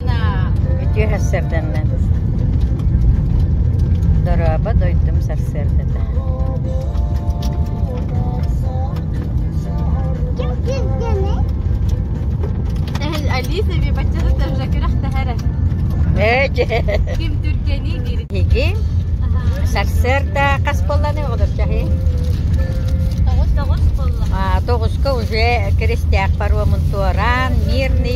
Үтүө сэрдэммин дорообо дойдум сарсыардата ээ дьэ иһиги сарсыарда хас буолланы олорчаһы тоҕуска уже крестьяк паромун туораан мирный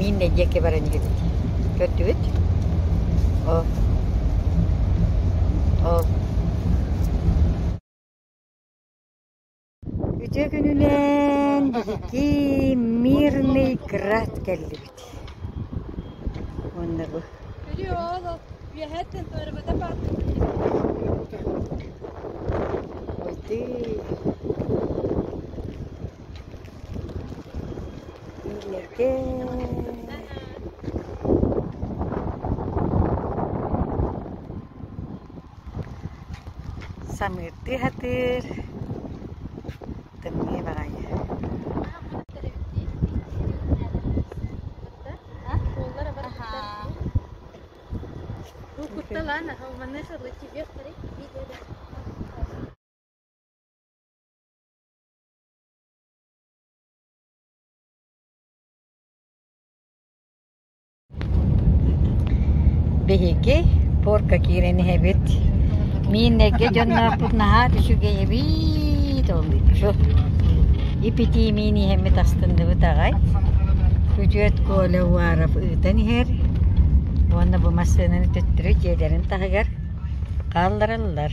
Мин нэдиэкэ баран иһэбит. Көрдүгүт? Оо. Оо. Үтүө күнүнэн биһиги Мирный Град кэллибит. Уонна бу Ой, ты. Ийэкээ Самыырдыы сатыыр Тымныы баҕайы Биһиги порка киирэн иһэбит. Мин нэргэ дьонноохпут наһаа үчүгэйэбит олуччу. Ипитиимиин иһэммит астынныбыт аҕай. Күдьүөт Коля Уаров ыытан иһэр. Уонна бу массыынаны төттөрү дьиэлэрин таһыгар хааллараллар.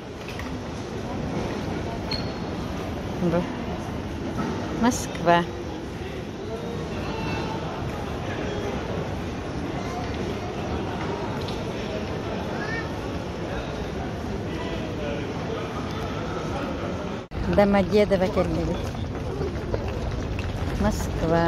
Москва Домодедово кэллибит Москва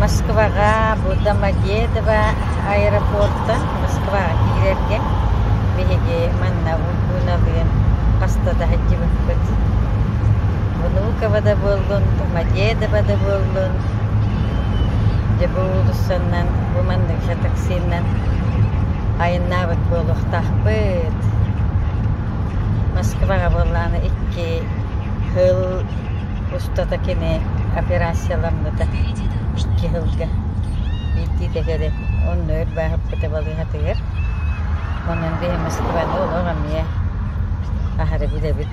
Москваҕа Будамадедово аэропортан Москваҕа киирэргэ биһиги манна Ульгуналыын хаста да сылдьыбыппыт. Онуукова да буоллун, Мадедова да буоллун, дьэ бу уулуссанан, бу манныгы таксинан айаннаабыт буолуохтаахпыт. Москваҕа буоллаҕына икки хыл устата кини операцияламмыта. Икки хылга биирдии да кэлин онно өр бааһырбыта балыыһатыгар. Онон биһи Москваны олох эмиэ аһары билэбит.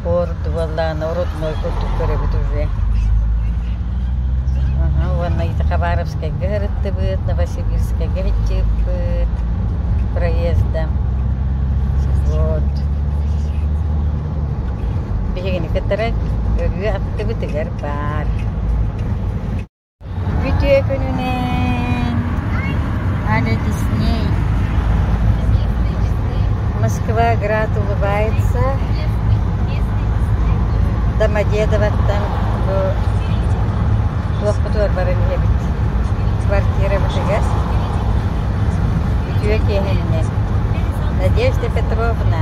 Ордубалаан родной курдук көрөбүт үһүө аха уонна Хабаровскайга сырыттыбыт Новосибирскайга иччиппыт проезда вот биһигини кытары ырыа аттыбытыгар баар Үтүөкүнүнэн аны Дисней Москва град улыбается Домодедовоттан бу туохпутугар баран иһэбит квартирабытыгар үтүө киэһэннэ Надежда Петровна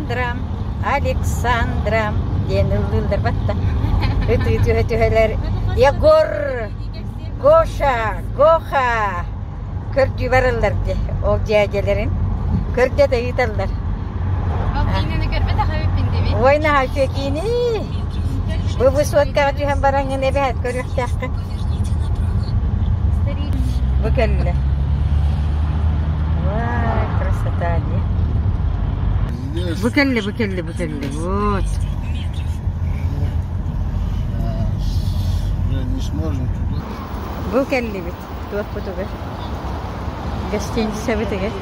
Александра, Александра диэн ыллыылларбат да ытыы түһэ-түһэлэр Егор, Гоша, Гоха көрдүү бараллар дии ол дьээдьэлэрин көрдө да ыыталлар. Балкиинаны көрбөтөх эбиппин дии. Ой наһаа үтүө киинии. Бу высоткаҕа түһэн бараҥҥын эбэһээт көрүөхтээххин Бу кэллэ Вай, красота дии Бу кэллэ, бу кэллэ, бу кэллэ Вот Бу кэллибит туохпутугар Гостиницабытыгар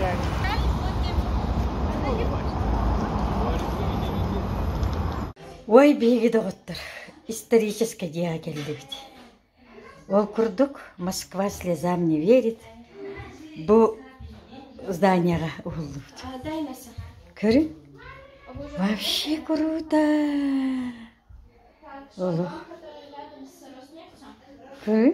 Уой биһиги доҕоттор историческай дьиэҕэ кэллибит. Ол курдук Москва слезам не верит бу зданиеҕа уһуллубут. Көрүн? Вообще круто! Олох. Көрүн?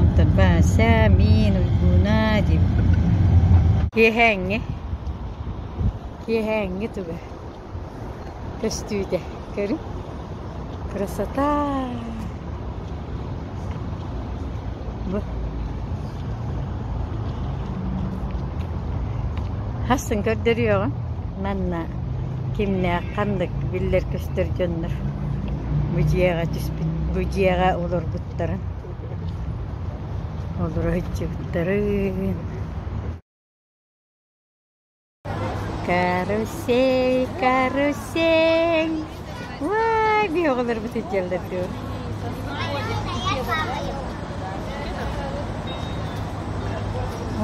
Онтон Вася, мин, Уйгууна диэбит киэһээҥҥи, киэһээҥҥи туга көстүүтэ көрүҥ. Красота! Бу хасын көрдөрүөҕүм манна кимнээх ханнык биллэр көстөр дьоннор бу дьиэҕэ түспүт бу дьиэҕэ олорбут Олоройчуттарын Карусель, карусель. Ой, биһоҕолорбут сылдьаллар дуо?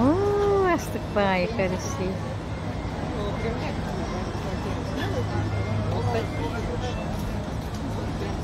Оо, астык баҕайы карусель.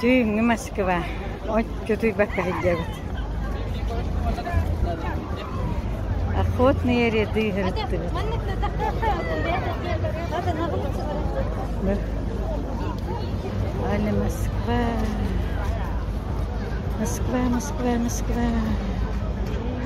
Түүннү Москва отчутуйбакка сылдьабыт. Охотные ряды ырыттыбыт. Али Москва. Москва, Москва, Москва.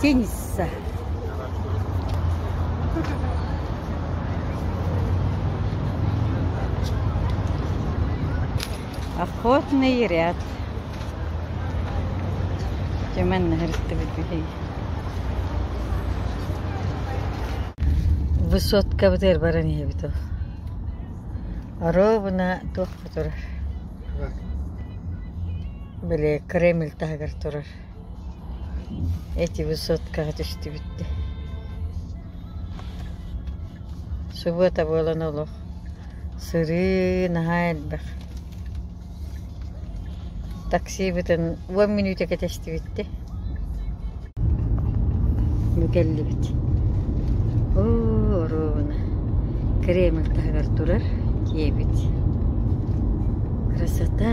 Кенисса Охотный ряд Тюмен наһырыстыбыт биһиги Высоткабытыгар баран иһэбит ол Оруобуна туох турар Били Кремль таһыгар турар Эти высоткаҕа түстүбүттэр Субуота буолан олох сырыы наһаа элбэх Таксибытын уон мүнүүтэ кэтэстибиттэр Бу кэллибит Оо оруобуна Кремль таһыгар турар киэбит Красота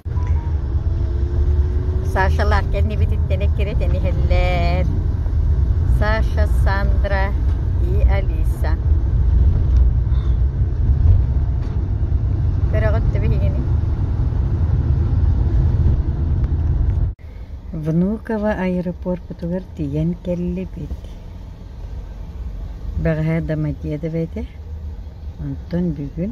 Сашалаах кэннибититтэн эккирэтэн иһэллэр. Саша, Сандра и Алиса. Көрөҕүт да биһигини? Внуково аэропорпутугар тиийэн кэллибит. Бэҕэһээ Домодедово этэ. Онтон бүгүн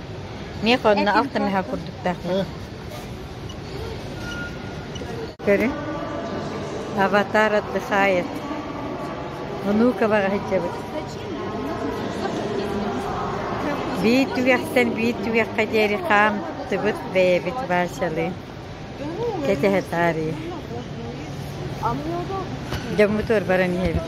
Миэхэ онно ах да мөһө курдуктаахтар Көрүҥ, аватар отдыхает. Онуука баҕа сылдьабыт. Биир түгэхтэн биир түгэххэ диэри хаамтыбыт бэйэбит Васялыын. кэтэһэ таарыйа дьоммутугар баран иһэбит